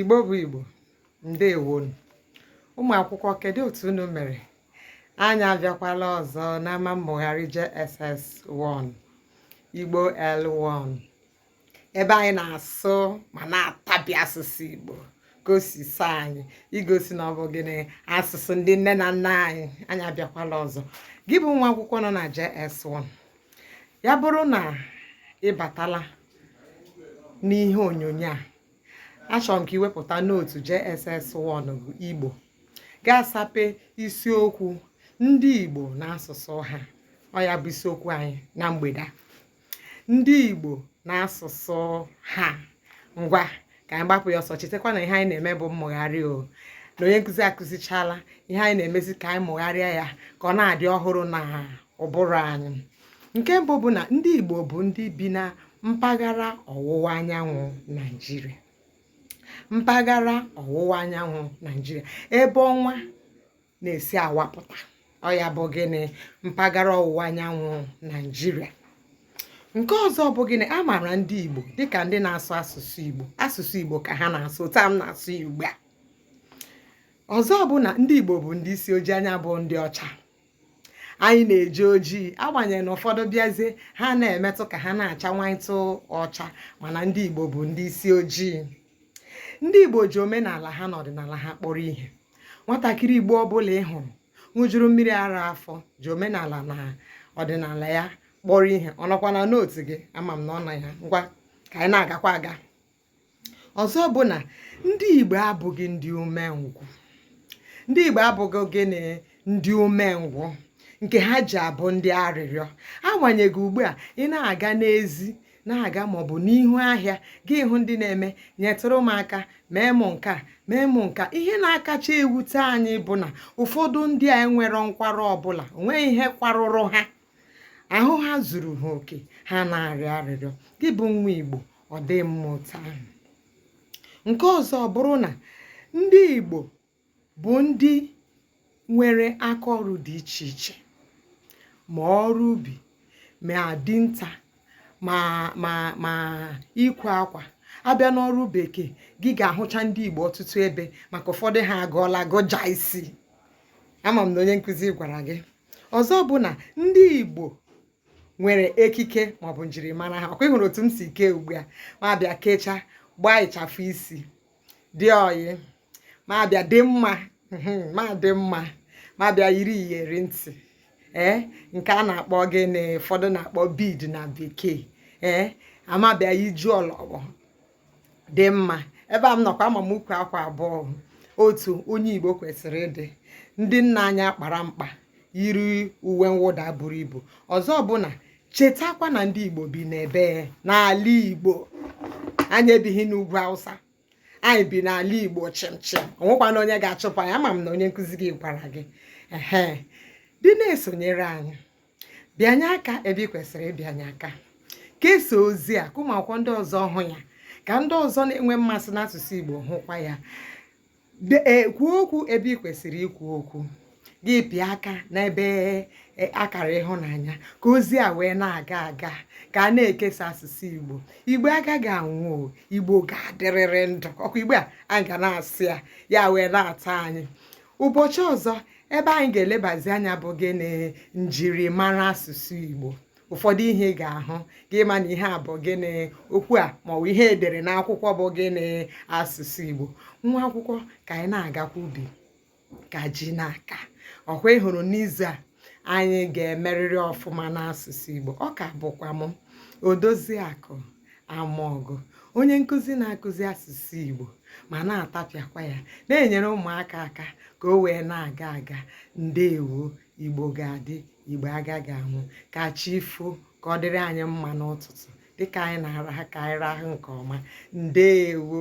igbo bụ igbo ndewonu ụmụ akwụkwọ kedu otu unu mere anyị abịakwala ọzọ n'ama mmụgharị JSS1 igbo L1 ebe anyị na-asụ ma na-atabi asụsụ Igbo ka o si sọ anyị igosi na ọ bụ gịnị asụsụ ndị nne na nna anyị anyị abịakwala ọzọ gị bụ nwa akwụkwọ nọ na JS1 ya bụrụ na ị batala n'ihe onyonyo a achọrọ m ka i wepụta note JSS1 bụ Igbo ga-asape isiokwu ndị Igbo na asụsụ ha ọ ya bụ isiokwu anyị na mgbede a ndị Igbo na asụsụ ha ngwa ka anyị gbapụ ya ọsọ chetakwa na ihe anyị na-eme bụ mmụgharị o na onye nkụzi akụzichala ihe anyị na-emezi ka anyị mụgharịa ya ka ọ na-adị ọhụrụ na ụbụrụ anyị nke mbụ bụ na ndị Igbo bụ ndị bi na mpaghara ọwụwa anyanwụ Naijiria mpaghara ọwụwa anyanwụ Naijiria ebe ọnwa na-esi awapụta ọ ya bụ gịnị mpaghara ọwụwa anyanwụ naijiria nke ọzọ bụ gịnị a maara ndị igbo dịka ndị na-asụ asụsụ igbo asụsụ igbo ka ha na-asụ otu a m na-asụ ya ugbu a ọzọ bụ na ndị igbo bụ ndị isi ojii anyị abụghị ndị ọcha anyị na-eji ojii agbanyeghị na ụfọdụ bịazie ha na-emetụ ka ha na-acha nwantụ ọcha mana ndị igbo bụ ndị isi ojii ndị Igbo ji omenala ha na ọdịnala ha kpọrọ ihe nwatakịrị Igbo ọbụla ị hụrụ ṅụjuru mmiri ara afọ ji omenala na ọdịnala ya kpọrọ ihe ọ nọkwa na note gị ama m na ọ nọ ya ngwa ka anyị na-agakwa aga ọzọ bụ na ndị Igbo abụghị ndị umengwụ ndị Igbo abụghị gịnị ndị umengwụ nke ha ji abụ ndị arịrịọ agbanyeghị ugbu a ị na-aga n'ezi na-aga ma ọ bụ n'ihu ahịa gị hụ ndị na-eme nyetụrụ m aka mee m nke a mee m nke a ihe na-akacha ewute anyị bụ na ụfọdụ ndị a enwero nkwarụ ọbụla o nweghị ihe kwarụrụ ha ahụ ha zuru ha oke ha na-arịọ arịrịọ gị bụ nwa Igbo ọ dị mma otu ahụ nke ọzọ bụrụ na ndị Igbo bụ ndị nwere aka ọrụ dị iche iche ma ọrụ ubi ma dinta ma ma ma ịkwa akwa a bịa n'ọrụ bekee gị ga-ahụcha ndị Igbo ọtụtụ ebe maka ụfọdụ ha agụọla gụja isi ama m na onye nkụzi gwara gị ọzọ bụ na ndị Igbo nwere ekike maọbụ njirimara ha ọkwa ị hụrụ otu m si kee ugbu a m abịa kechaa gbaa ịchafụ isi dị oyi m abịa dị mma m adị mma m abịa yiri iyeri ntị ee nke a na-akpọ gịnị ụfọdụ na-akpọ bead na bekee ee amabịa iju ọlọgbọ dị mma ebe a m nọkwa ama m ukwu akwa abụọ otu onye igbo kwesịrị ịdị ndị nna anyị akpara mkpa yiri uwe mwụda buru ibu ọzọ bụ na chetakwa na ndị Igbo bi n'ebe n'ala Igbo anyị ebighị n'ugwu Hausa anyị bi n'ala Igbo chịmchịm o nwekwanụ onye ga-achụpụ anyị ama m na onye nkụzi gị gwara gị ehe dị na-esonyere anyị bịanye aka ebe ị kwesịrị ịbịanye aka kesaa ozi a ka ụmụ akwụkwọ ndị ọzọ hụ ya ka ndị ọzọ na-enwe mmasị n'asụsụ Igbo hụkwa ya kwuo okwu ebe ị kwesịrị ikwu okwu gị pịa aka n'ebe e, akara ịhụnanya ka ozi a wee na-aga aga ka a na-ekesa asụsụ igbo igbo agaghị anwụ igbo ga-adịrịrị ndụ ọkwa igbo a anyị ga na-asụ ya ya wee na-ata anyị ụbọchị ọzọ ebe anyị ga-elebazi anya bụ gịnị njirimara asụsụ igbo ụfọdụ ihe ị ga-ahụ gị ma na ihe a bụ gịnị okwu a maọbụ ihe e dere n'akwụkwọ bụ gịnị asụsụ Igbo nwa akwụkwọ ka anyị na-agakwa ubi ka ji na-aka ọkwa ị hụrụ n'izu a anyị ga-emerịrị ọfụma n'asụsụ Igbo ọ ka bụkwa m Odoziakụ Amaọgụ onye nkụzi na-akụzi asụsụ Igbo ma na-atapịakwa ya na-enyere ụmụaka aka ka o wee na-aga aga ndewo igbo ga-adị igbo agaghị anwụ ka chi foo ka ọ dịrị anyị mma n'ụtụtụ dịka anyị na-araha ka anyị rahụ nke ọma ndewo